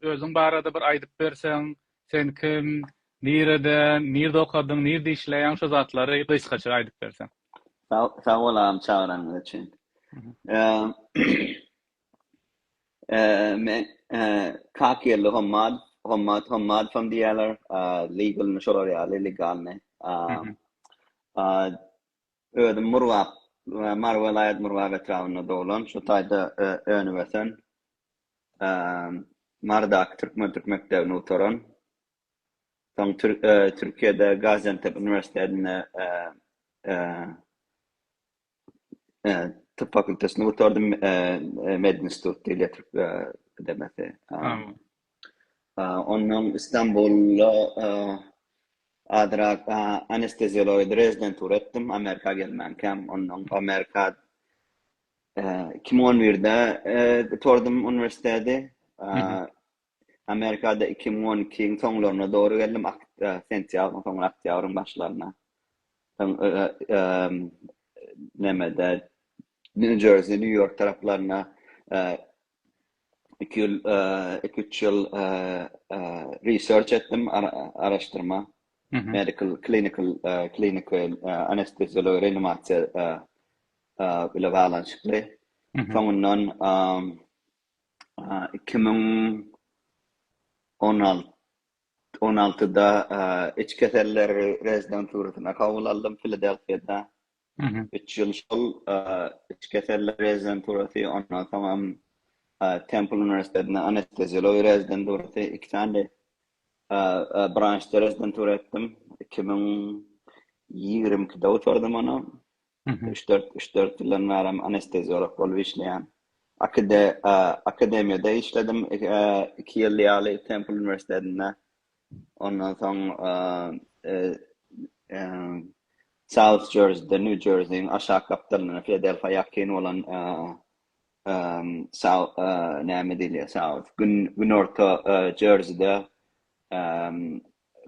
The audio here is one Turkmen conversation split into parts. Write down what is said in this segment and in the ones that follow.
Özüň barada bir aýdyp berseň, sen kim, nireden, nirde okadyň, nirde işleýäň şu zatlary gysgaça aýdyp berseň. Sag bol agam çagyranyňyz üçin. Men Kakýerli Hommat, Hommat Hommadow diýýärler, legalny şolar ýaly, legalny. Özüm Murgap, Mary welaýat Murgap etrabynda doglan, şu taýda öňübösen, Marydaky türkmen türk mekdebini gutaran, soň Türkiýede Gaziantep uniwersitetinde typ fakultetini gutardym, Medinstitut, Dil we türk edebiyatı. Onnoň Istanbulda azrak anesteziologiýa rezidentura etdim, Amerika gelmänkäm. Onnoň Amerika iki müň on birde gutardym uniwersiteti. Amerikada iki müň on ikiň soňlaryna dogry geldim, sentýabryň soňuna, oktýabryň başlaryna. Nämede, Nýu-Jersey, Nýu-Ýork taraplarynda iki ýyl, iki üç ýyl research etdim, araşdyrma, medical, clinical, kliniki anesteziologiýa, reanimasiýa bilen baglanyşykly. Soňundan iki müň on altyda iç keselleri rezidenturasyna kabul aldym Filadelfiýada. Üç ýyl şol iç keseller rezidenturasy, ondan soňam Templ uniwersitetinde anesteziologiýa rezidenturasy, iki sany branşda rezidentura etdim. Iki müň ýigrimi ikide gutardym ony. Üç-dört, üç-dört ýyldan bärem anesteziolog bolup işleýän. Akademiýada işledim iki ýyl ýaly Templ uniwersitetinde. Ondan soň South Jerseyde, New Jersey-iň aşak gapdalynda Filadelfiýa ýakyn bolan South näme diýilýär South günorta Jerseyde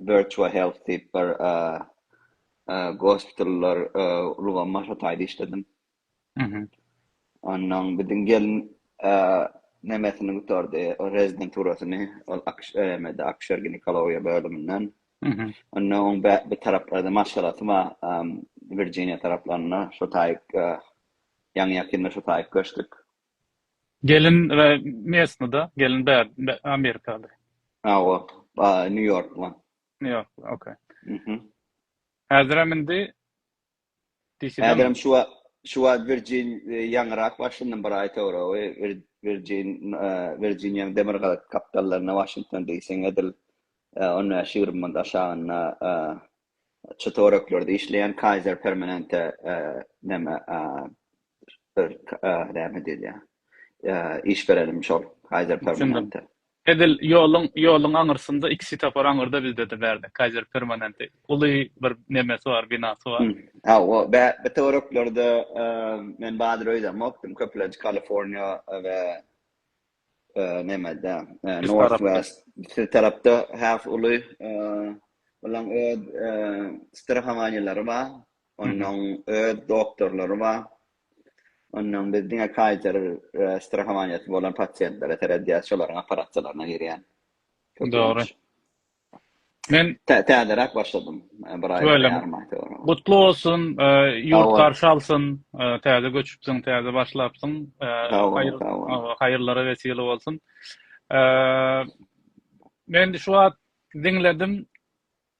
Virtua Health diýip bir gospitallar ulgamy başlataýda işledim. Onnoň biziň gelin nemesini gutardy, rezidenturasyny, ol AKŞM-de akuşer-ginekologiýa bölüminden. Onda oň bir taraplarda maşgalasy bar, Wirjiniýa taraplarynda, şo taýyk ýaňy-ýakynda şo taýyk göçdük. Gelin mesni-da, gelin amerikaly? Hawa, Nýu-Ýorkly. Nýu-Ýorkly, okey. Häzirem indi Häzirem şu wagt şu wagt Virgin ýaňyrak Waşington bir aý soňra Virgin Virginiýaň demir gazyk kapitallaryna Waşington diýseň edil on bäş ýigrimi manat aşagynda çy töwereklerde işleýän Kaiser Permanente näme näme diýilýär iş berenim şol Kaiser Permanente. Edil ýoluň ýoluň aňyrsynda iki swetofar aňyrda bizde-de bärde Kaiser Permanente uly bir nemesi bar binasy bar. Hawa bä bi töwereklerde men badyr öýdemokdym köplenç Kaliforniýa we nemede North West şu tarapda has uly olaň öz strahowanýalary bar onuň öz doktorlary bar Ondan biz diňe Kaiser strahowaniýasy bolan pasiýentlere seredýäs, şolaryň operasiýalaryna girýän. Dogry. Men täzeräk başladym. Bir aý ýarym Gutly bolsun, ýurt garşy alsyn. Täze göçüpsiň, täze başlapsyň. Haýyrlara wesile bolsun. Men şu wagt diňledim.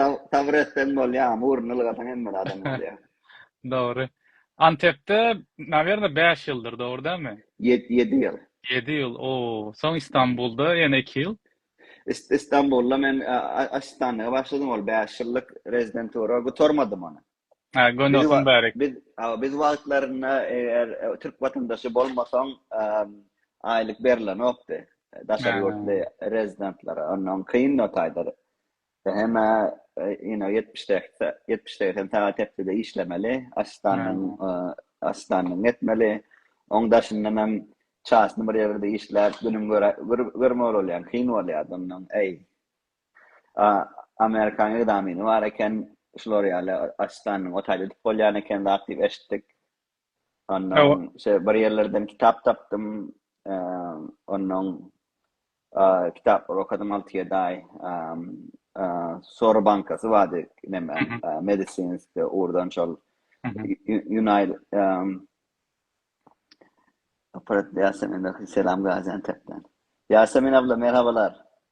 Sabyr etseň bolýar, murny ylgasaň hemme zadam bolýar. Dogry. Antepde, nawerno, bäş ýyldyr, dogry dälmi? Ýedi, ýedi ýyl. Ýedi ýyl, oo. Soň Istanbulda ýene iki ýyl. Istanbulda men asistanlyga başladym, ol bäş ýyllyk rezidentura, gutarmadym ony. Biz biz wagtlarynda eger türk watandaşy bolmasaň aýlyk berilenokdy daşary ýurtly rezidentlara onnoň kyn o taýda hemä ýene ýetmiş seksen ýetmiş seksen sagat hepdede işlemeli asistanyň asistanyň etmeli oň daşyndan hem çasny bir ýerde işläp günüň görmeli bolýar kyn bolýardy onnoň äý A Amerikanyň egzamini bar eken, şular ýaly asistanyň otelde edip bolýan eken zat diýip eşitdik. Ondan şeý bir ýerlerden kitap tapdym. Ondan kitaplary okadym alty ýedi aý. Sor bankasy bardy, näme, medisinski ugurdan şol United Aparat Ýasemin Selam Gaziantepden. Ýasemin abla merhabalar.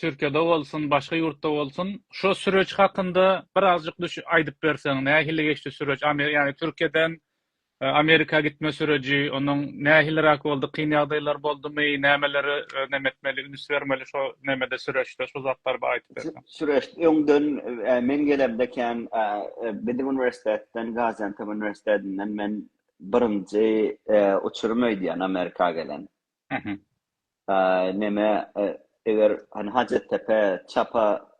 Türkiýede bolsun, başga ýurtda bolsun, şo süreç hakynda birazjyk düş aýdyp berseň, nähili geçdi süreç? Amer ýagny Türkiýeden Amerika gitme süreji, onuň nähiliräk boldy, kyn ýagdaýlar boldumy, nämeleri neme etmeli, üns bermeli şo nemede süreçde, şo zatlary bir aýdyp berseň. Süreç öňden men gelemde kän biziň uniwersitetden, Gaziantep uniwersitetinden men birinji uçurum öýdýän Amerika gelen. Mhm. Aý, neme, eger hany Hajatdepe, çapa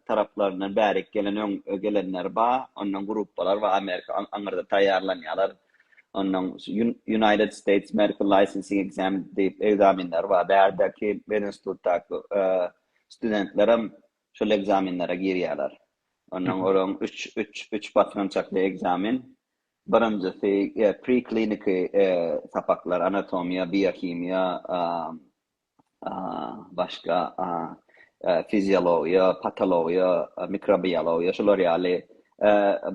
taraplaryndan bärik gelen öň gelenler ba, ondan gruppalar ba, Amerika aňyrda taýýarlanýarlar. Ondan United States Medical Licensing Exam diýip ekzamenler ba, bärdäki medinstitutdaky studentlerem şol ekzamenlere girýärler. Ondan olaň üç, üç, üç basgançakly ekzamen. Birinjisi, prekliniki sapaklar, anatomiýa, biohimiýa, başga fiziologiýa, patologiýa, mikrobiologiýa, şular ýaly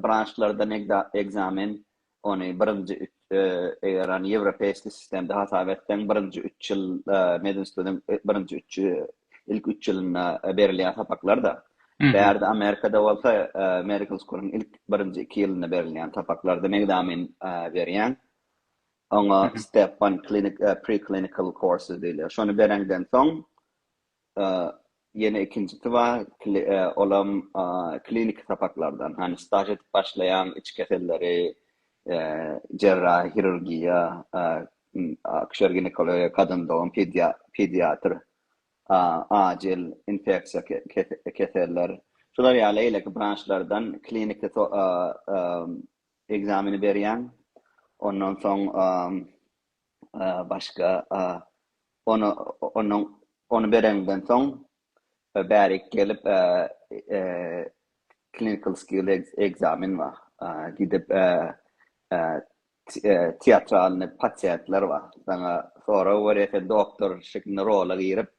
branşlardan ekzamen, ony birinji üç, eger ony ýewropeýski sistemde hasap etseň, birinji üç ýyl medinstitutyň birinji üç ilk üç ýylynda berilýän sapaklar-da, bärde Amerikada bolsa Medical School-yň ilk birinji iki ýylynda berilýän sapaklarda megzamin berýäň. Oňa Step One Clinic, Preclinical Courses diýilýär. Şony bereňden soň, ýene ikinjisi bar, olam kliniki sapaklardan, hany staž edip başlaýaň, içi keselleri, Jerrahy hirurgiýa, akuşer-ginekologiýa, kadyn dogum, pediatr, ajil infeksiýa keseller, şular ýaly beýleki branşlardan kliniki ekzameni berýäň. Ondan soň başga ony bereňden soň we bärik gelip clinical skill ekzamen bar gidip teatralnyý pasiýentler bar saňa sorag berýär sen doktor şeklinde rola girip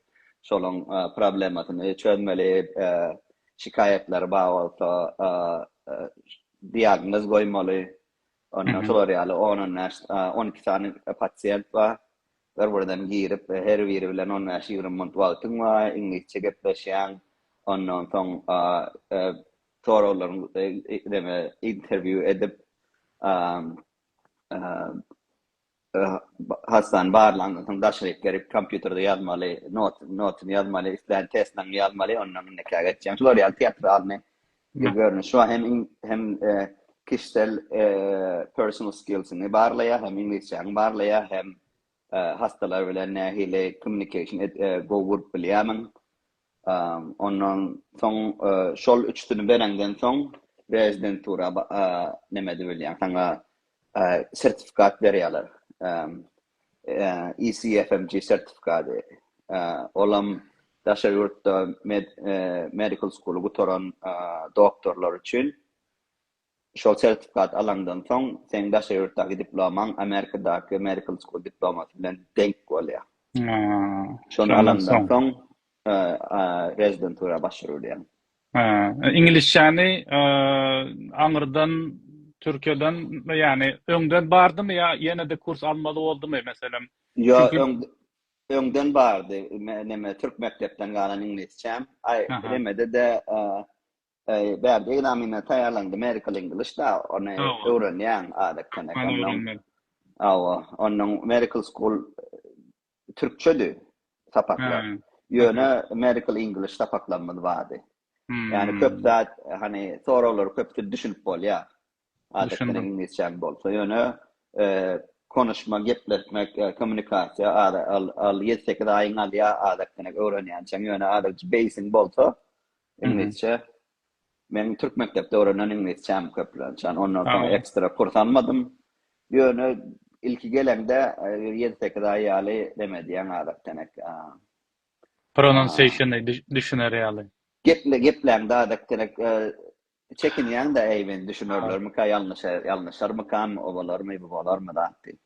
şolaň problemasyny çözmeli şikaýatlary bar bolsa diagnoz goýmaly ondan şolar ýaly on on bäş on iki sany pasiýent bar Bir-birinden girip, her biri bilen on bäş-ýigrimi minut wagtyň bar, iňlisçe gepleşýäň. Ondan soň soraglaryň neme interwýu edip, hassany barlandan soň daşaryk gerip kompýuterde ýazmaly, notuny ýazmaly, islän testiňi ýazmaly, ondan indekä geçýäň. Şular ýaly teatralnyý Ýüze görnüş şu hem hem kişisel personal skillsiňi barlaýar, hem iňlisçäňi barlaýar, hem hassalar bilen nähili kommunikasiýa gowy gurup bilýärmiň. Ondan soň şol üçüsini bereňden soň rezidentura neme edip bilýäň, saňa sertifikat berýärler. ECFMG sertifikady, olam daşary ýurtda medical school-y gutaran doktorlar üçin. Şol sertifikat alaňdan soň, seň daşary ýurtdaky diplomaň Amerikadaky medical school diplomasy bilen deňk bolýar. Şony alandan soň rezidentura başwuryp bilýäň. Hä, iňlisçäni aňyrdan Türkiýeden, ýagny öňden bardymy ýa ýene-de kurs almaly boldumy, meselem? Ýok, öňden bardy. Neme, türk mekdepden galan iňlisçäm. Aý, nemede-de, bärde ekzamene taýýarlanda medical English-da, ony öwrenýäň adatdan. Hawa, onuň medical school Türkçedi sapaklar. Ýöne medical English sapaklarymyz bardy. Ýani köp zat hani soraglar köpüsi düşünip bolýar. Adatdan iňlisçäň bolsa ýöne konuşma gepletmek kommunikasiýa al ýedi sekiz aýyň alýar adatdan öwrenýänçäň ýöne adatça beýsiň bolsa iňlisçe Meniň türk mekdepde öwrenen iňlisçäm köplençän, ondan soň ekstra kurs almadym. Ýöne ilki geleňde bir ýedi-sekiz aý ýaly nem edýäň adak-denek. Pronunciation-y düşüner ýaly. Gepläňde adak-denek çekinýäň-de, äý men düşünerlermikä, ýalňyşarmykam, o bolarmy, bu bolarmy zat diýip.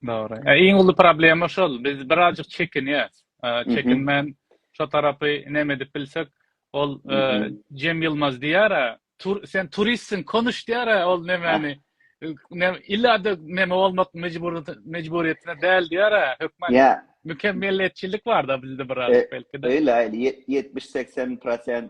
Dogry. E, iň uly problema şol. Biz birazjyk çekinýäs. E, çekinmän şo tarapy näme edip bilsek, ol e, Cem Yılmaz diýär, tur, sen turistsiň, konuş diýär, ol nämäni ne illada näme bolmak mejburyýet mejburyýetine däl diýär, hökman. Ýa. Mükemmeliyetçilik barda bizde birazjyk e, belki de. Öyle, 70-80%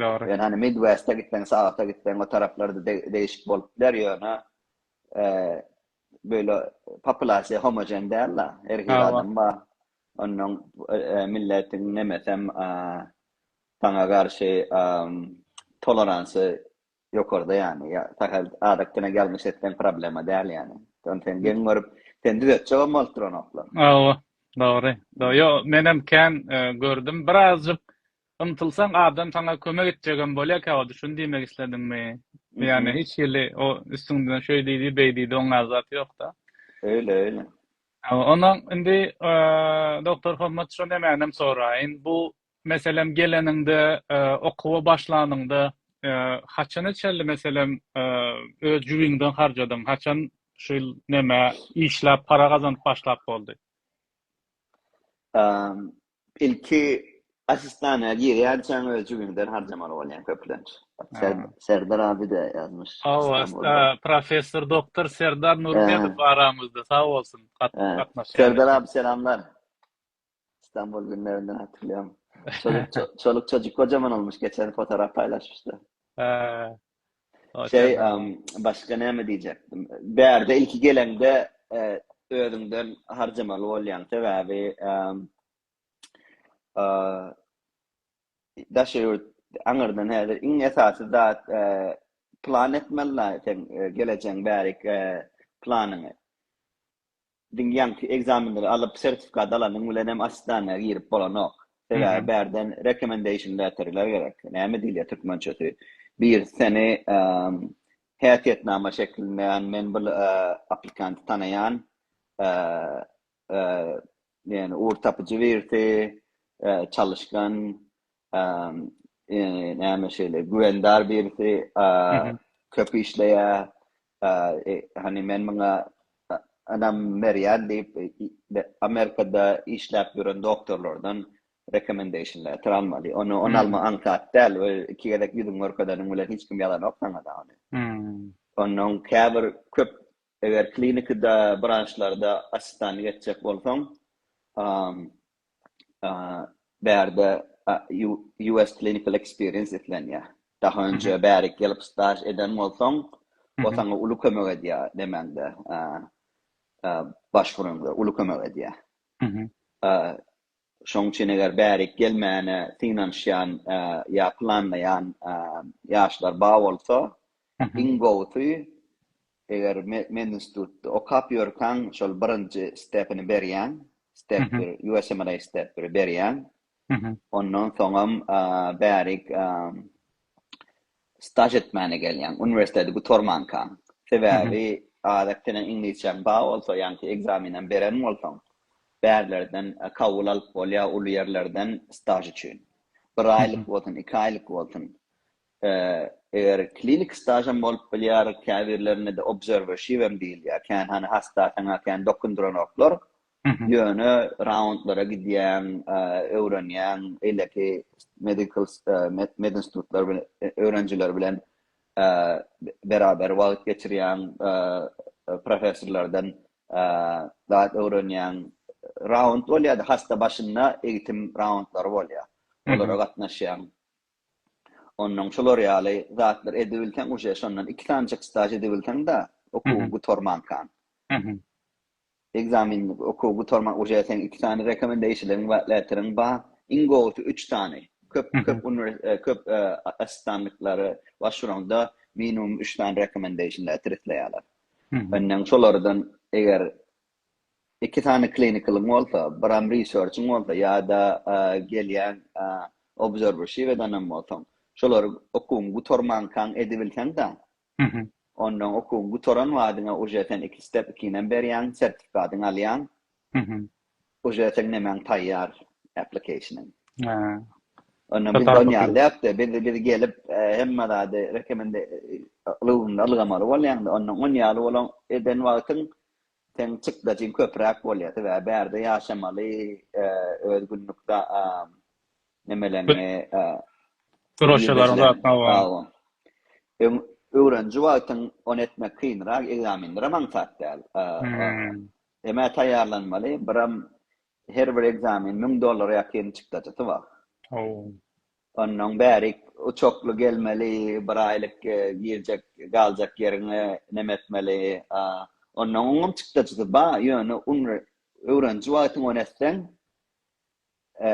Dogry. Ýöne hany Midwest-e gitseň, South-a gitseň, o taraplarda de-degişik bolup biler, ýöne, eee, beýle populasiýa homogen däl-de, her hili adam bar. Onnoň, eee, milletiň nemesem, eee, saňa garşy, emm, toleransy ýokarda ýany, ýa, sähel adatdan ýalňyş etseň problema däl ýany. Ony sen geň görüp, seni düzetjegem bolup duranoklar. Hawa, dogry. Ýo, menem kän, eee, gördüm. Birazjyk Ymtylsaň adam saňa kömek etjegem bolýarkä ody şuny diýmek islediňmi? Ýagny hiç hili o üstüňden şeý diýdi beý diýdi oňňar zat ýokda. Öýle öýle. Onda indi Doktor Hommat şo nemänem soraýyn bu meselem geleniňde okuwa başlanyňda haçana çenli meselem öz jübiňden harjadyň haçan şu ýyl neme işläp para gazanyp başlap boldy? Ilki asistana girýänçäň öz jübiňden harjamaly bolýaň köplenç. Serdar abi de ýazmyş. Hawa, professor doktor Serdar Nurmedow aramyzda sag bolsun gatnaşýan. Serdar abi selamlar. Stambul günlerinden hatyrlaýan. Çoluk çojuk gojaman olmuş geçen fotoraf paýlaşypsyda. Şeý, başga näme diýjekdim. Bärde ilki geleňde özüňden harjamaly bolýaň. Sebäbi daşary ýurt aňyrdan häzir iň esasy zat plan etmeli-la sen gelejegiň bärik planyňy. Diňe ýaňky ekzamenleri alyp sertifikat alanyň bilen hem assistana girip bolanok. Sebäbi bärden recommendation letterler gerek. Näme diýilýär türkmençesi? Birisi seni häsiýetnama şeklinde ýagny men bir aplikant tanaýan ýagny ugur tapyjy birisi, çalyşgan, Eee, eee, näme şeýle güwendar birisi, eee, köp işleýär, eee, hany men muňa ynam berýän diýip, Amerikada işläp ýören doktorlardan recommendation letter almaly. Ony, ony almak aňsat däl we iki gezek ýüzüňi görkezeniň bilen hiç kim ýazanok saňa-da ony. Onnoň käbir köp, eger klinikada, branşlarda assistanlyk etjek bolsaň, eee, bärde US clinical experience islenýär. Daha önce bärik gelip staj eden bolsaň, o sana uly kömek edýär nemäňde, başwuraňda uly kömek edýär. Şoň üçin eger bärik gelmäne synanyşýan ýa planlaýan ýaşlar bar bolsa, iň gowusy Eger medinstitutda okap ýörkäň, şol birinji stepini berýäň, step bir, USMLE step biri berýäň. Ondan soňam bärik staž etmäne gelýäň, uniwersiteti gutarmanka. Sebäbi adat seniň iňlisçäň bar bolsa, ýaňky ekzamenem beren bolsaň, bärlerden kabul alyp bolýar uly ýerlerden staž üçin. Bir aýlyk bolsun, iki aýlyk bolsun. Hä, eger klinik stažam bolup bilýär, käbirlerine-de obserwership hem diýilýär. Kän hany hassa saňa kän dokundyranoklar, ýöne raundlara gidýäň, öwrenýäň, eýleki medical medinstitutlar bilen öwrenijiler bilen beraber wagt geçirýäň, professorlardan zat öwrenýäň. Raund bolýar-da, hassa başynda egitim raundlary bolýar. Olara gatnaşýaň. Onnoň şolar ýaly zatlar edibilseň uje şondan iki sanjyk staž edibilseňda okuw gutarmankan. Ekzamin okuw gutarman uje seň iki sany rekomendeýşiligiň bar letteriň bar iň gowusy üç sany köp köp köp assistantlyklara başvuraňda minimum üç sany rekomendeýşin letter isleýärler. Onnoň şolardan eger iki sany klinikalyň bolsa, biram research-yň bolsa ýa-da gelýän obserwership-edenem bolsaň, şolary okuwyň gutarmankaň edibilseň-de, onda okuwyň gutaran badyňa uje sen iki step ikinem berýäň, sertifikatyňy alýaň, uje seň nemäň taýýar, application-yň. Onda biz ony ýalyýakda, biz gelip hemme zady rekomendasiýa ulgamynda ylgamaly bolýaňda, onda ony ýaly bolan eden wagtyň Seň çykdajyň köpräk bolýa sebäbi bärde ýaşamaly öz günlük nemeleriňi Göreşeleriňi zatlaň hawa. Öň öwreniji wagtyň ony etmek kynrak ekzamenlerem aňsat däl. Emä taýýarlanmaly biram her bir ekzamen müň dollara ýakyn çykdajysy bar. Hawa. Onnoň bärik uçakly gelmeli bir aýlyk girjek galjak ýeriňe neme etmeli a onnoň oňňam çykdajysy ba ýöne un öwreniji wagtyň ony etseň e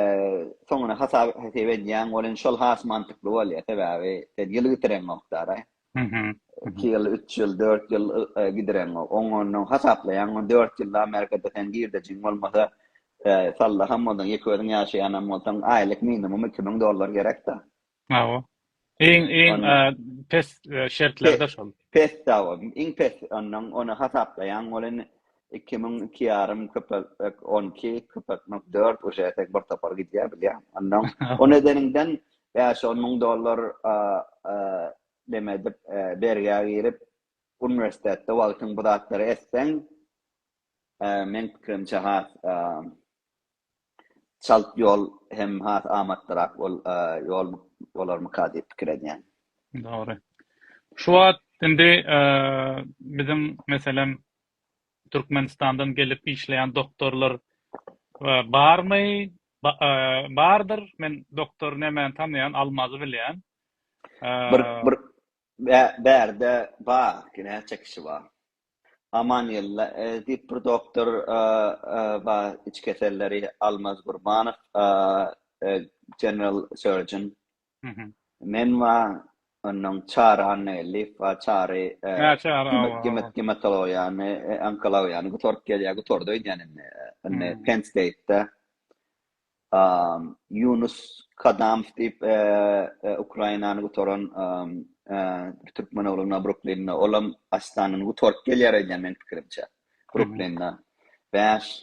soňuna hasap hesep edýäň ol in şol has mantykly bolýa sebäbi sen ýyl bitireňokdara Mhm. Iki ýyl, üç ýyl, dört ýyl gidireň. Oň ondan hasaplaýaň. Oň dört ýylda Amerikada sen girdejiň bolmasa, sallaham bolsaň, ýeke özüň ýaşaýanam bolsaň, aýlyk minimum iki müň dollar gerek-dä. Hawa. Iň, iň pes şertlerde şol. Pes, hawa. Iň pes ondan ony hasaplaýaň. Ol indi iki müň, iki ýarym köpeltmek on iki, köpeltmek dört, uje etek bir topar gidýär bilýäň. Ondan ony edeniňden Bäş-on müň dollar neme edip, bergä girip, uniwersitetde wagtyň bu zatlary etseň, meň pikirimçe, has çalt ýol hem has amatlyrak ýol bolarmyka diýip pikir edýän. Dogry. Şu wagt indi biziň, meselem, Türkmenistandan gelip işleýän doktorlar barmy? Bardyr. Men doktor Nemeni tanaýan, Almazy bilýän. Bir bir bärde bar, näçe kişi bar. Amanylla diýip bir doktor bar, iç keselleri, Almaz Gurbanow, general surgeon. Men we onuň Çary Annageldiýew we Çary gimatologiýany, onkologiýany gutaryp gelýär, gutardy öýdýän indi. Indi Penn State-de Ýunus Kadamow diýip, Ukrainany gutaran bir türkmen ogly bar Bruklinde, olam Astanany gutaryp gelýär öýdýän, meniň pikirimçe. Bruklinde bäş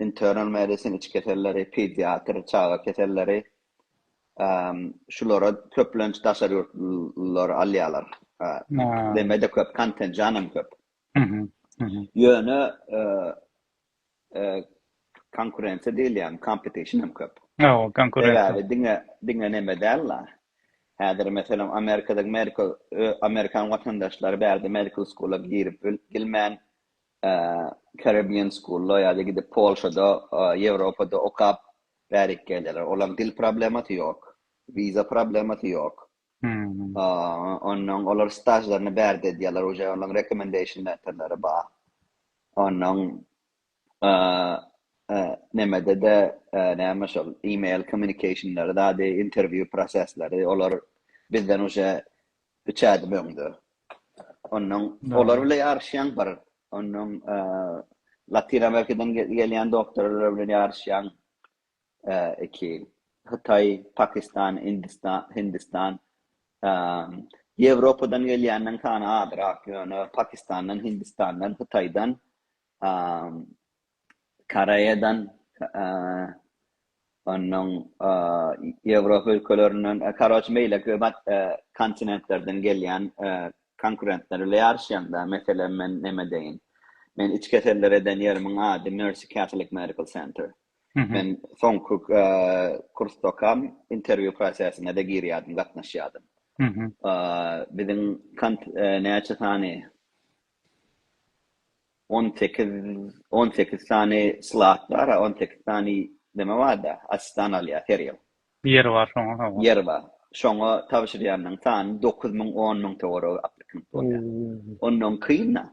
internal medicine, iç keselleri, pediatr, çaga keselleri, şulary köplenç daşary ýurtlular alýarlar. Demede köp, kontenjanam köp. Ýöne konkurensiýa diýilýän, competition hem köp. Hawa, konkurensiýa. Sebäbi diňe, diňe neme däl-la. Häzir meselem Amerikada Amerika, Amerikan watandaşlary bärde medical school-a girip bilmän, Caribbean School-a ýa-da gidip Polşada, Ýewropada okap bärik gelýärler. Olaryň dil problemasy ýok. Wiza problemasy ýok. Onnoň olar stažlaryny bärde edýärler, uje olaryň recommendation letterleri bar. Onnoň nemede-de, näme şol, email kommunikationlary zady, interview prosesleri, olar bizden uje Üç ädim öňde. Ondan olar bilen ýaryşýaň bir. Ondan Latin Amerikadan gelýän doktorlar bilen ýaryşýaň iki. Hytaý, Pakistan, Hindistan, Hindistan. Ýewropadan gelýäniň sany azrak, ýöne Pakistandan, Hindistandan, Hytaýdan Koreýadan, onnoň Ýewropa ülkelerinden, karoç beýleki köp kontinentlerden gelýän konkurentler bile ýaryşýan-da. Meselem, men näme diýeýin, men iç keseller eden ýerimiň ady Mercy Catholic Medical Center. Men soňky kursdakam interwýu prosesine-de girýärdim, gatnaşýardym. Biziň näçe sany On sekiz on sekiz sany slat bara on sekiz sany neme barda açdan alýa her ýyl. Ýer bar şoňa hawa. Ýer bar. Şoňa tabşyrýanyň sany dokuz müň on müň töweregi aplikant bolýa. Ondan kynda.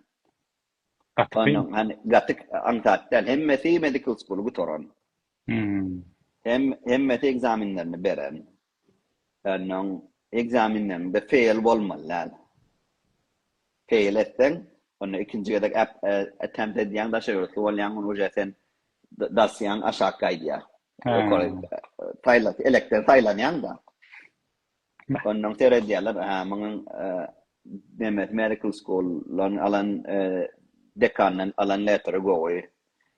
Gaty kyn. Ondan hany gaty aňsat däl. Hemmesi medical school gutaran. Hem hemmesi ekzamenlerini beren. Ýöne oň ekzamenlerinde feýl bolmaly däl. Feýl etseň, onda ikinji gezek attempt edýäň, daşa ýörüsli bolýaň, onda uje sen dosýaň aşak gaýdýar. Elekden saýlanýaň-da. Onda oň seredýärler, hä, munuň nemesi medical school-dan alan, dekandan alan letteri gowy.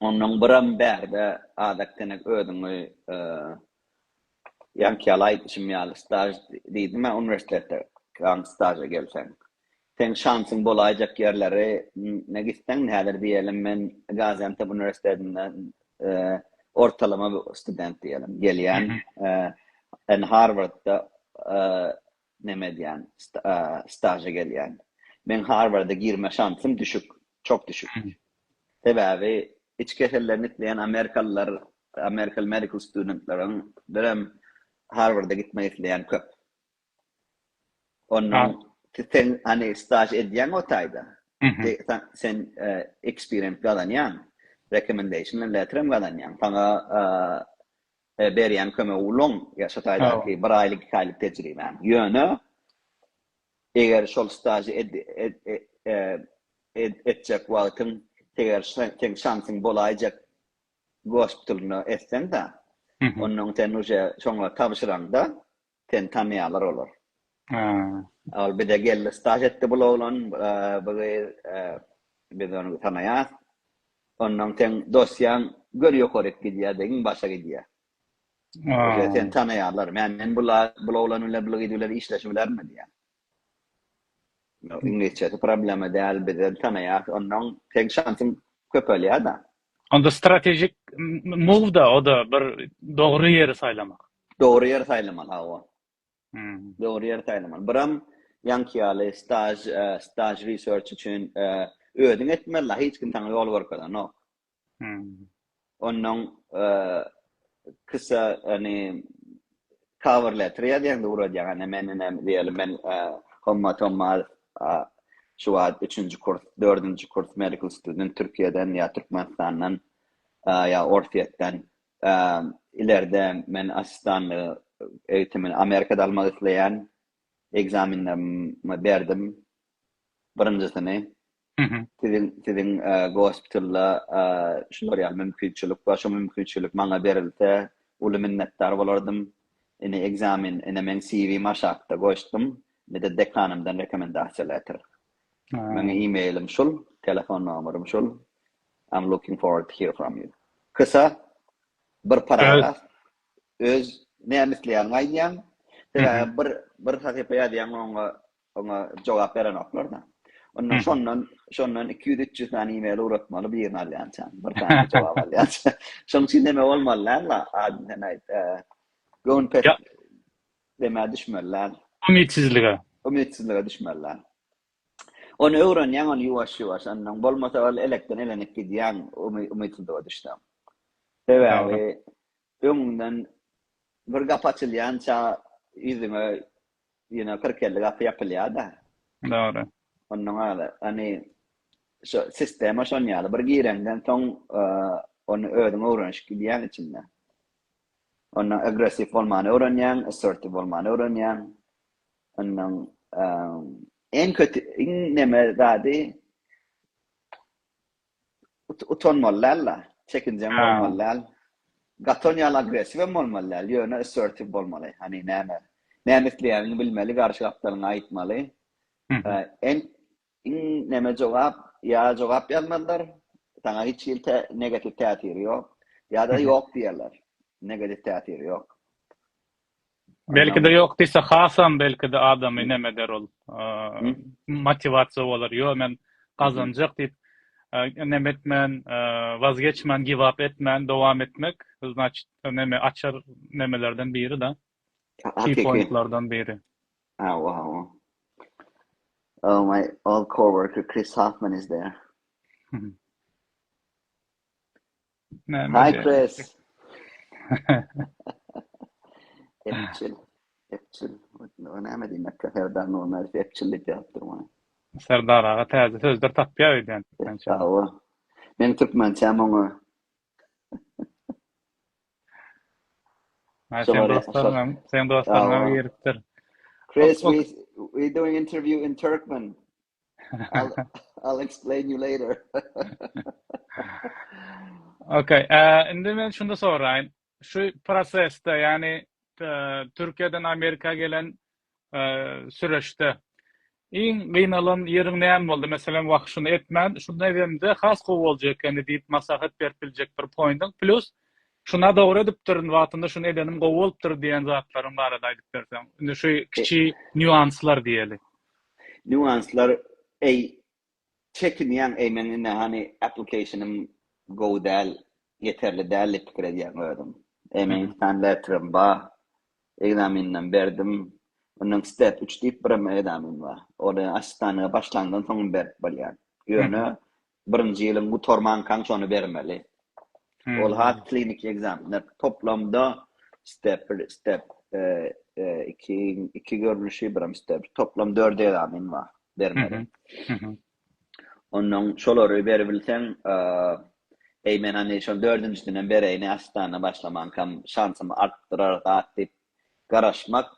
Ondan biram bärde Adak Denek özüňi ýaňky ýaly aýdyşym ýaly staž diýdim-ä uniwersitetde ýaňky staža gelseň. Seň şansyň bolaýjak ýerleri ne gitseň häzir diýelim men Gaziantep uniwersitetinden ortalama student diýelim gelýän. Harwardda Näme edýän? Staža gelýän. Meň Harwarda girme şansym düşük, çok düşük. Sebäbi iç kesellerini isleýän amerikalylar, American medical studentlerden birem Harwarda gitmek isleýän köp. Onda sen hani staž edýäň o taýda. Sen experience gazanýaň, recommendation letterem gazanýaň. Saňa He, berýän kömegi ulanyň, ýa şu taýdaky bir aýlyk, iki aýlyk tejribäňi. Ýöne, eger şol stažy etjek wagtyň, eger seň şansyň bolaýjak gospitulynda etseň-de, onda sen uje şoňa tabşyraňda, Seni tanýarlar olar. Haa. Ol bize geldi, staž etdi bul oglan, bu gyz, biz ony tanaýas. Ondan seň dosýaň gör ýokaryk gidýär degin başa gidýär. Haa. Seni tanaýarlar. Men bul oglan bilen, bul gyz bilen işleşibilermi diýýän. Iňlisçesi problema däl bizem tanaýas onnoň seň şansyň köpelýada. Onda strategic move da oda bir dogry ýeri saýlamak. Dogry ýeri saýlamaly hawa. Dogry ýeri saýlamaly. Biram ýaňky ýaly staj staj research üçin özüň etmeli hiç kim saňa ýol görkezenok. Onnoň kisa ony cover letter ýazýaňda uradýaň ene men ene diýeli men Hommat Hommat şu wagt üçünji kurs dördünji kurs medical student Türkiýeden ýa Türkmenistandan ýa Orsýetden ilerde men assistanlygy eýitimini Amerikada almak isleýän ekzamenlerimi berdim birinjisini Siziň siziň gospitalda şular ýaly mümkinçilik bar. Şu mümkinçilik maňa berilse, uly minnetdar bolardym. Ine ekzamen, ine meň CV-mi aşakda goşdum. Indi dekanymdan rekomendasiýa letter. Meň e-mailim şul, telefon nomerym şul. I'm looking forward to hear from you. Kysa bir paragraf öz näme isleýäniňi aýdýaň. Sebäbi bir bir sahypa ýazýaň oňa Oňa jogap berenoklar-da. Onda şondan, şondan iki ýüz, üç ýüz sany e-mail ugratmaly birini alýança. Bir sany jogap alýança. Şonuň üçin näme bolmaly däl-la? Adyny sen aýt. Göwün pes demä düşmeli däl. Umytsizlige. Umytsizlige düşmeli däl. Ony öwrenýäň, ony ýuwaş-ýuwaş. Ondan bolmasa ol elekden elenip gidýäň, umytsuzlyga düşseň. Sebäbi Öňüňden bir gapy açylýança ýüzüňe ýene kyrk-elli gapy ýapylýar-da. Dogry. Onnoň aly, ony şo sistema şon ýaly, bir gireňden soň ony özüň öwrenişip gidýäň içinde. Onda agressiw bolmany öwrenýäň, assertive bolmany öwrenýäň. Onnoň iň köti, iň neme zady utanmaly däl-de, çekinjeň bolmaly däl. Gaton ýaly agressiw hem bolmaly däl, ýöne assertiw bolmaly. Hany näme, näme isleýäniňi bilmeli, garşy gapdalyňy aýtmaly. Iň näme jogap, ýa jogap ýazmazlar, saňa hiç hili negatiw täsiri ýok, ýa-da ýok diýerler, negatiw täsiri ýok. Belkide yok diyse hasam belkide adamy nem eder ol motivaciya bolar yo men gazanjak diyip nem etmen wazgeçmen givap etmen dowam etmek znaçit neme açar nemelerden biri da key pointlardan biri. Hawa hawa. Oh my old coworker Chris Hoffman is there. Hi Chris. Epçil. Epçil. O näme diýmek? Serdar Nurmez epçil diýip ýazypdyr muny. Serdar aga täze sözler tapýar öýdýän. Sag bol. Men türkmençe muňa. Sen dostlarym, sen dostlarym giripdir. Chris, we we doing interview in Turkmen. I'll, I'll explain you later. okay, uh, indi men şunda soraýyn. Şu prosesde, yani uh, Türkiýeden Amerika gelen uh, süreçde iň gynalan ýeriň näme boldy? Meselem, wah şuny etmän, şunda edemde has gowy boljak ekeni diýip maslahat berip biljek bir poýntyň plus şuna dogry edipdirin wagtynda şuny edenim gowy bolupdyr diýen zatlaryň barada aýdyp berseň. Indi şu kiçi e- nýuanslar diýeli. Nýuanslar eý çekinýäň eý meň indi hany application-ym gowy däl ýeterli däl diýip pikir edýäň özüň eý meň iki sany letterim ba ekzameninem berdim ondan step üç diýip birem ekzamen ba ol açykdanlyga başlandan soňam berip bolýar ýöne Birinji ýylyň gutarmankaň şony bermeli. Ol has kliniki ekzamenler. Toplamda step bir, step iki, iki görnüşi, birem step. Toplam dört ekzamen bar bermeli. Ondan şolary berip bilseň, eý men hany şol dördünjisini hem bereýin, ässitana başlamankaň şansymy artdyrar zat diýip garaşmak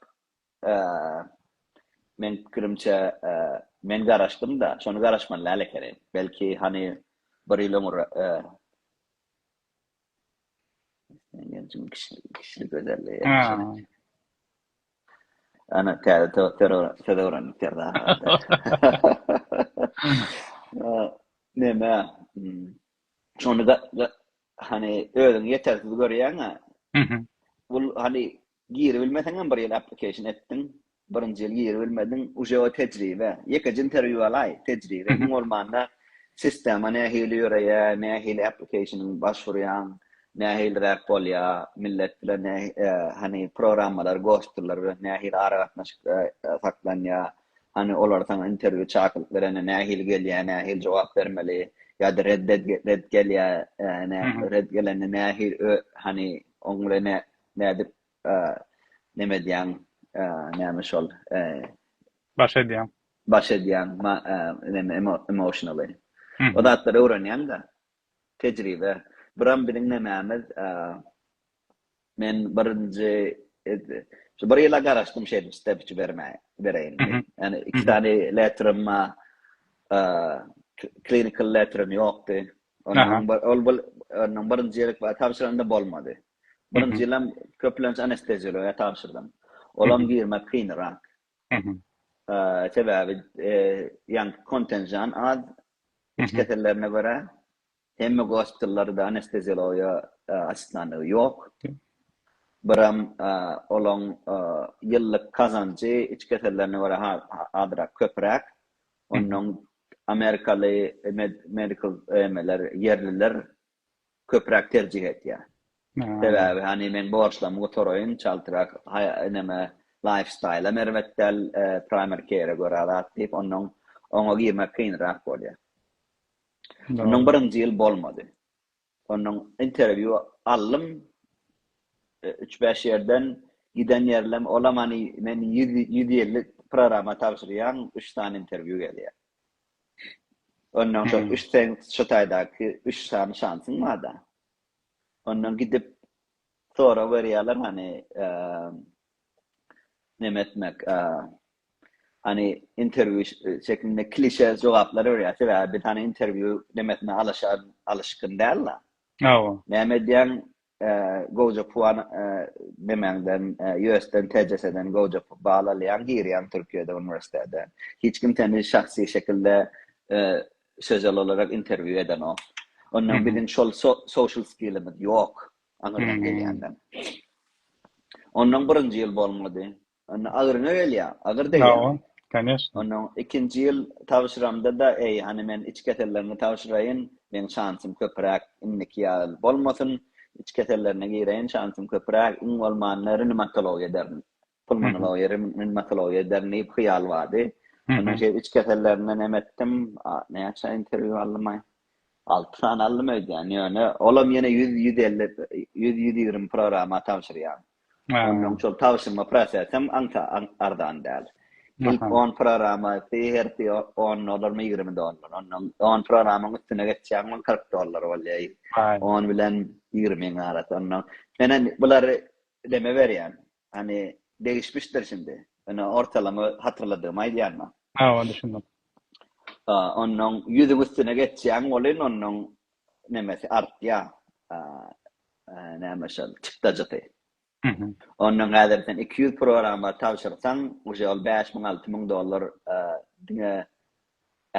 Meniň pikirimçe, men garaşdym-da, şony garaşman lala ekenim. Belki, hany, bir ýyl öňür. Isleýän genjiň kişilik gözellige ýaraşan ekeni. Ana, täze söz öwrendik Serdar aga. Näme, şony, hany, özüňi ýetersiz görýäň-ä. Bu, hany, Giribilmeseňem bir ýyl application etdiň, birinji ýyl giribilmediň, uje o tejribe, ýekeje interview alaý, tejribe, iň bolmanda sistema nähili ýöreýär, nähili applicationyň başwurýaň, nähiliräk bolýar, millet bilen nä hany programmalar, gostllar bilen nähili aragatnaşyk saklanýar, hany olar saňa interview çakylyk berende nähili gelýär, nähili jogap bermeli, ýa-da red red gelýär, red gelende nähili hany oň bilen Nädip neme edýäň, näme şol? Baş edýäň. Baş edýäň, neme emotionally. O zatlary öwrenýäň-de. Tejribe. Buram biziň nemämiz, men birinji şu bir ýyla garaşdym şeýdip step üçi bermäge, bereýin. Ýani iki sany letterim bar. Clinical letterim ýokdy. Ondan ol bir, ondan birinji ýerik bar, tabşyranda bolmady. Birinji ýylam köplenç anesteziologiýa tabşyrdym. Olam girmek kynyrak. Sebäbi ýaňky kontenjan az iç kesellerine görä. Hemme gospitallarda anesteziologiýa assistantlygy ýok. Biram olaň ýyllyk kazanjy iç kesellerine görä azrak köpräk. Onnoň amerikaly med medical emeler ýerliler köpräk terjih etýär. Sebäbi hany meň borçlarymy gutaraýyn, çaltrak näme laýfstaýlam erbet däl, primary care-e görä zat diýip, onnoň oňa girmek kynrak bolýar. Onnoň birinji ýyl bolmady. Onnoň interwýu aldym üç-bäş ýerden, giden ýerlem olam hany men ýüz ýüz elli programma tabşyrýan, üç sany interwýu gelýär. Ondan soň üç sen şu taýdaky üç sany şansyň barda. Ondan gidip sorag berýärler hany neme etmek hany interwýu şeklinde klişe jogaplary berýär. Sebäbi biz hany interwýu nemesine alyşan alyşgyn däl-la. Hawa. Näme edýäň? Ee, gowja puan nemäňden, US-den, TCS-den gowja bal alýaň, girýäň Türkiýede uniwersitete. Hiç kim seni şahsy şekilde sözel olarak interwýu edenok. Ondan biziň şol social skillimiz ýok, aňyrdan gelýänden. Ondan birinji ýyl bolmady. Onda agyryňa gelýär, agyr degýär. Hawa, koneşna. Onda ikinji ýyl tabşyramda-da, eý, hany men iç keselleriňi tabşyraýyn, meň şansym köpüräk, indiki ýaly bolmasyn, iç kesellerine gireýin, şansym köpüräk, iň bolmanda rinimatology ederin, pulmonology, rinimatology ederin diýip hyýal bardy. Ondan şeýdip iç kesellerine nem etdim, näçe interwýu aldym-aý? Alty sany aldym öýdýän, ýöne olam ýene ýüz, ýüz elli, ýüz, ýüz ýigrimi programma tabşyrýan. Onnoň şol tabşyrma prosesem aňta arzan däl. Ilk on programmasy hersi on dollarmy, ýigrimi dollar. Onnoň on programmaň üstüne geçýäň, ol kyrk dollar bolýar. On bilen ýigrimiň arasy. Onnoň men-ä bulary neme berýän, hany degişmişdir şindi. Men ortalama hatyrladygymy aýdýan maňa. Hawa, düşündim. Onnoň ýüzüň üstüne geçýäň welin, onnoň nemesi artýa näme şol çykdajysy ondan häzir sen iki ýüz programma tabşyrsaň uje ol bäş müň alty müň dollar diňe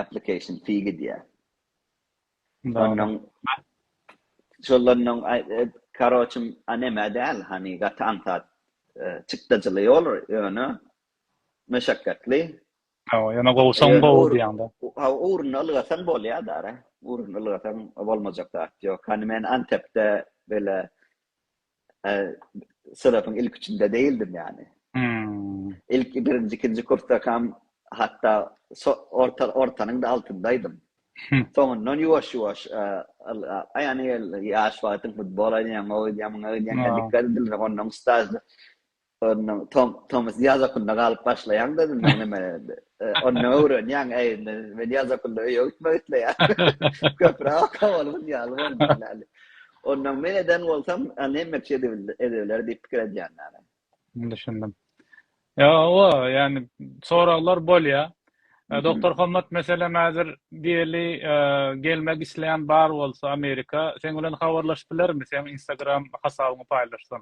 application fee gidýä ondan şolardan karoçym anema däl hani gaty aňsat çykdajyly ýoly ýöne meşakkatly Hawa, ýöne gowusaň gowy diýýäň-de. Hawa, ugruny ylgasaň bolýar-da-a. Ugruny ylgasaň bolmajak zat ýok. Hany men Antepde beýle synawyň ilki üçinde däldim ýany. Ilki birinji, ikinji kursdakam hatda ortanyň-da altyndaýdym. Soňundan ýuwaş-ýuwaş ylgap, ýöne ýaş wagtyň futbol oýnaýaň, oýnaýaň, muňa oýnaýaň, dikkat edilmese onnoň stažy Onnoň tom tomus ýaz okulynda galyp başlaýaň dedim men neme onda öwrenýäň äýnde men ýaz okulynda öýe gitmek isleýärin köpräk oka bolubyn ýaly boldum ýaly onnoň men eden bolsam neme edebiler diýip pikir edýän ýaly düşündim ýa owa ýani soraglar bolýa Doktor Hommat meselem häzir diýeli gelmek isleýän bar bolsa Amerika seň bilen habarlaşyp bilermi seň instagram hasabyňy paýlaşsam.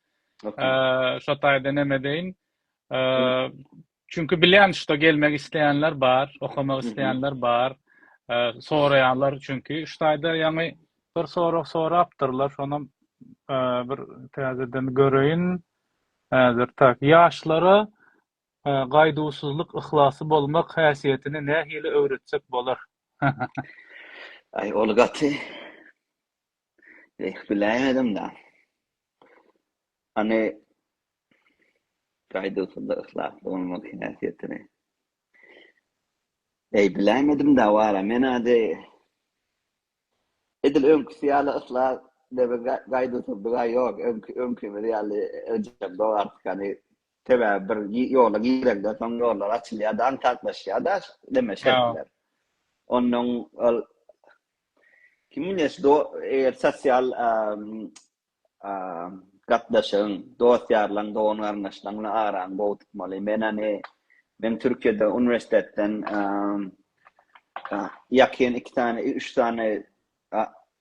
Şo taýda näme edeýin? Çünki bilýän şuda gelmek isleýänler bar, okamak isleýänler bar. Soraýanlar çünki şu taýda ýaňy bir sorag sorapdyrlar, şonam bir täzeden göreýin. Häzir tak, ýaşlara gaýduwsyzlyk, yhlasy bolmak häsiýetini nähili öwretsek bolar? Aý, ol gaty. Eh, biläýmedim-dä. Hany, gaýduwsyzlyk, yhlasly bolmak häsiýetini? Eý, biläýmedim-dä, wara, men-ä deý, edil öňküsi ýaly yhlas we gaýduwsyzlyk-a ýok, öňki, öňkimiz ýaly öýjüräp dogardyk, hany, sebäbi bir ýola girende, soň ýollar açylýar-da, aňsatlaşýar-da, neme, şertler. Onnoň ol. Kiminle do eger sosial gatnaşygyň, dost-ýarlaň, dogan-garyndaşlaň bilen araňy gowy tutmaly. Men hany men Türkiýede uniwersitetden ýakyn iki sany, üç sany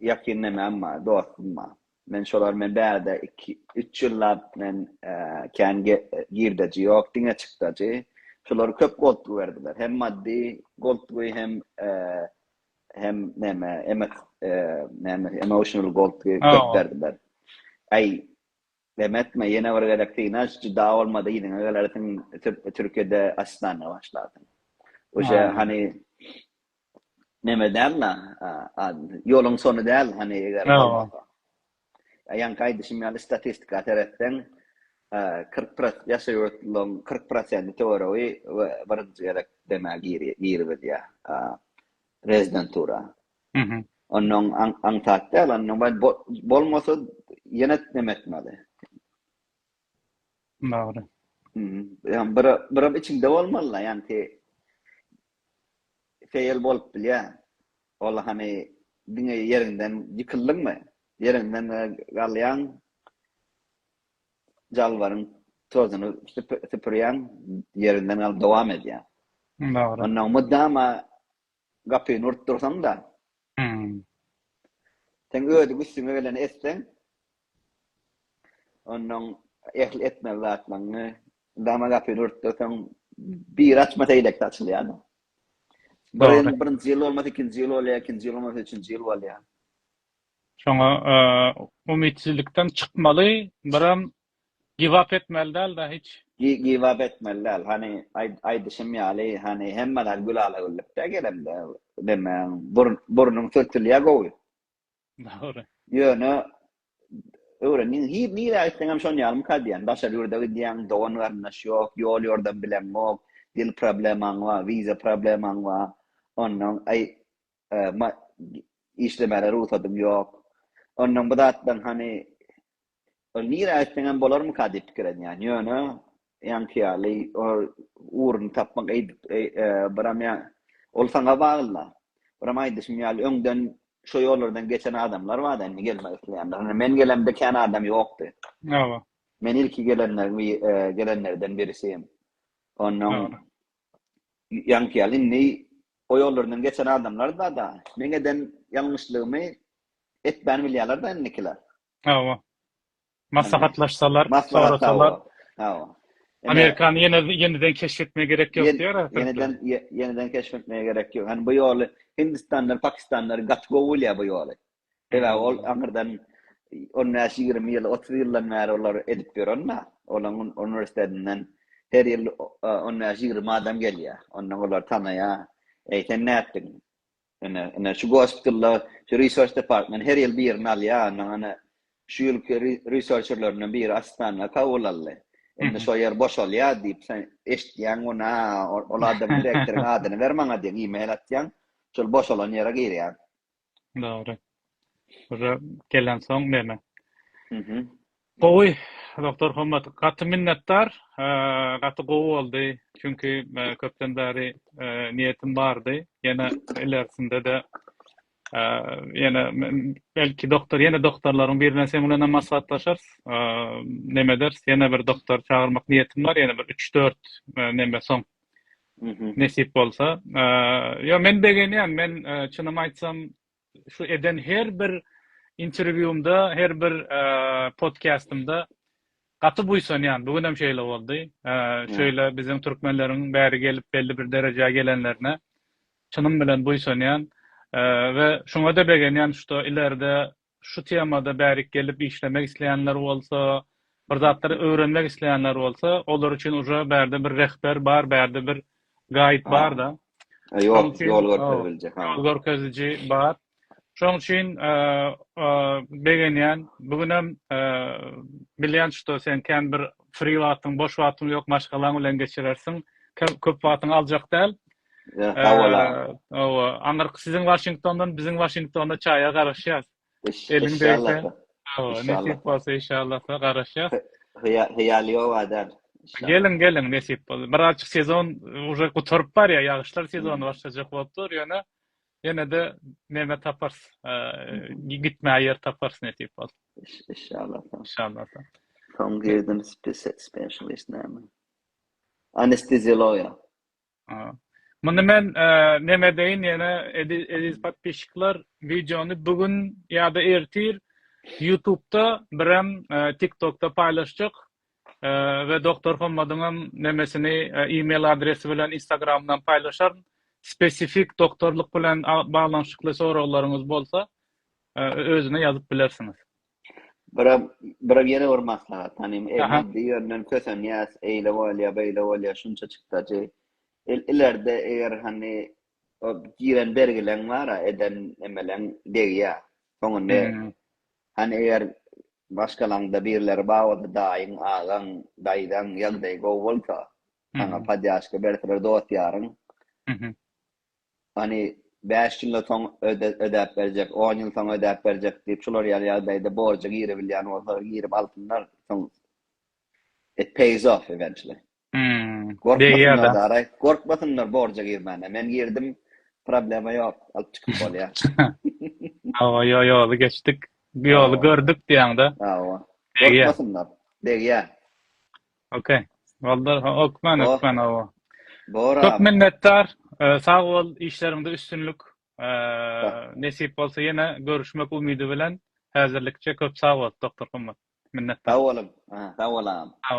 ýakyn nämem bar, dostum bar. Men şolar bilen bärde iki, üç ýyllap men kän girdeji ýok, diňe çykdajy. Şolar köp goltgy berdiler. Hem maddy goltgy, hem hem näme emek näme emotional gold köp berdim ben ay Demetme ýene bir gezek synaş juda bolmady ýene gelersiň Türkiýede asistana başlarsyň. Oje hani neme däl la ýoluň sonu däl hani eger Ýaňky aýdyşym ýaly statistika seretseň, kyrk pross ýaşy ýurtlylaryň kyrk prosenti töweregi birinji gezek demä giribizýär rezidentura. Onnoň aňsat däl, onnoň men bolmasa ýene neme etmeli. Dogry. Ýa bir birim içiňde bolmaly-da, ýanki feýl bolup bilýär. Ol hany diňe ýeriňden ýykyldyňmy? Ýeriňden galýaň, jalbaryň tozuny süpürýäň, ýeriňden galyp dowam edýäň. Dogry. Onnoň mydama gapyny urup dursaň-da, seň ödük üstüňe geleni etseň, Onuň ähli etmeli zatlaryny dama gapyny örtdürseň, biri açmasa eýlekisi açylýar-da. Birin, birinji ýyl bolmasa ikinji ýyl bolýar, ikinji ýyl bolmasa üçünji ýyl bolýar. Şoňa umytsizlikden çykmaly, biram giwap etmeli däl-de hiç. Gi-giwap etmeli däl. Hany, aý-aýdyşym ýaly, hany, hemme zat gülala-güllük-dä gelemde, näme, burn-burnuň sürtülýär gowy. Dogry. Ýöne öwrendiň hir nirä gitseňem şon ýalymka diýýän daşary ýurda gidýäň dogan garyndaş ýok ýol ýordam bileňok dil problemaň bar wiza problemaň bar onnoň aý işlemäge rugsadyň ýok onnoň bu zatlaň hany Ol nirä gitseňem bolarmyka diýip pikir edýän. Ýöne ýaňky ýaly ol ugruny tapmak eýdip biram ýa ol saňa bagly-da. Biram aýdyşym ýaly öňden şo ýollardan geçen adamlar bar-da indi gelmek isleýänler. Indi men gelemde kän adam ýokdy. Hawa. Men ilki gelenleriň bi gelenlerden birisi. Onnoň ýaňky ýaly indi o ýollardan geçen adamlar bar-da. Meň eden ýalňyşlygymy etmän bilýärler-de indikiler. Hawa. Maslahatlaşsalar, sorasalar. Hawa. Amerikany ýene ýeniden keşf etmegi gerek ýok diýýär Atatürk. Ýeniden ýeniden keşf etmegi gerek ýok. Ýani bu ýoly Hindistanlar, Pakistanlar gaty gowy bolýar bu ýoly. Sebäbi ol aňyrdan 15-20 ýyl, 30 ýyldan bäri olar edip ýörenna. Olaň uniwersitetinden her ýyl 15-20 adam gelýär. Ondan olar tanaýar. Eý sen nätdiň? Ine, ine şu gospitalda şu research department her ýyl birini alýar, ondan ene şu ýylky researcherlerinden biri assistanta kabul aldy. Indi şo ýer boşalýar diýip, sen eşitýäň muny, a, ol adamyň direktoryň adyny ber maňa diýýäň, e-mail atýaň, şol boşalan ýere girýäň. Dogry. Uje gelen soň neme. Mhm. Gowy Doktor Hommat gaty minnetdar. Gaty gowy boldy. Çünki köpden bäri niýetim bardy. Ýene ilersinde-de ýene belki doktor ýene doktorlaryň birine sen bilen hem maslahatlaşarys. Neme ederis ýene bir doktor çagyrmak niýetim bar ýene bir üç dört neme soň. Mhm. Nesip bolsa. Ýok men begenýän men çynymy aýtsam Şu eden her bir interwýumda, her bir podkastymda gaty buýsanýan. Bu günem şeýle boldy. Şeýle biziň türkmenleriň bäri gelip belli bir derejä gelenlerine çynym bilen buýsanýan we şuňada begenýän şuda ileride şu temada bärik gelip işlemek isleýänler bolsa, bir zatlar öwrenmek isleýänler bolsa, olar üçin uje bärde bir rehber bar, bärde bir gaýyt barda. Ýol görkeziliji. Ýol görkeziliji bar. Şoň üçin begenýän. Bu günem bilýän şuda sen kän bir free wagtyň, boş wagtyň ýok, maşgalaň bilen geçirersiň. Köp wagtyňy aljak däl. Sag bol. Hawa, aňyrky siziň Waşingtondan, biziň Waşingtonda çaýa garaşýas. Eliň degse, nesip bolsa inşallahda garaşýas. Hyýaly ýok adam. Geliň, geliň, nesip bolsa. Birazjyk sezon uje gutaryp barýar, ýagyşlar sezony başlajak bolup dur, ýöne ýene-de neme taparys, gitmäge ýer taparys nesip bolsa. Inşallahda. Inşallahda. Soň girdim spesialist näme? Anesteziologiýa. Muny men neme deýin ýene eziz podpişikler wideony bu gün ýa-da ertir ýutubda birem tiktokda paýlaşjak we Doktor Hommadyňam nemesini email adresi bilen instagramdan paýlaşaryn spesifik doktorlyk bilen baglanyşykly soraglaryňyz bolsa özüne ýazyp bilersiňiz. Bira, bira ýene bir maslahat. Hani maddi ýönden kösenýäs, eýle bolýa, beýle bolýa, şunça çykdajy. Il, ilerde eger hani o giren bergileň bara, eden emeleň degýä. Soňunda hmm. hani eger başgalaňda birleri bawada daýyň, agaň, daýzaň ýagdaýy gowy bolsa, sana hmm. padýaşka berseler dost ýaryň. Hmm. Hany, bäş ýylda soň ödäp berjek, on ýyl soň ödäp berjek diýip, şular ýaly ýagdaýda borja girebilýän bolsalar, girip alsynlar, soň it pays off eventually. Gorkmasynlar daraý, gorkmasynlar borja girmäne. Men girdim, problema ýok, alyp çykyp bolýar. Hawa, ýo, ýoly geçdik, ýoly gördük diýýäň-de. Hawa, gorkmasynlar, degýär. Ok. Boldur. Okman, Bo. okman, hawa. Bor Köp abi. minnetdar. Ee, Sag bol, işleriňde üstünlik. Ee, Sag. Nesip bolsa ýene görüşmek umydy bilen. Häzirlikçe köp sag bol, doktor gymmat. Minnetdar. Sag boluň. Aha, sag bol agam. Sag bol.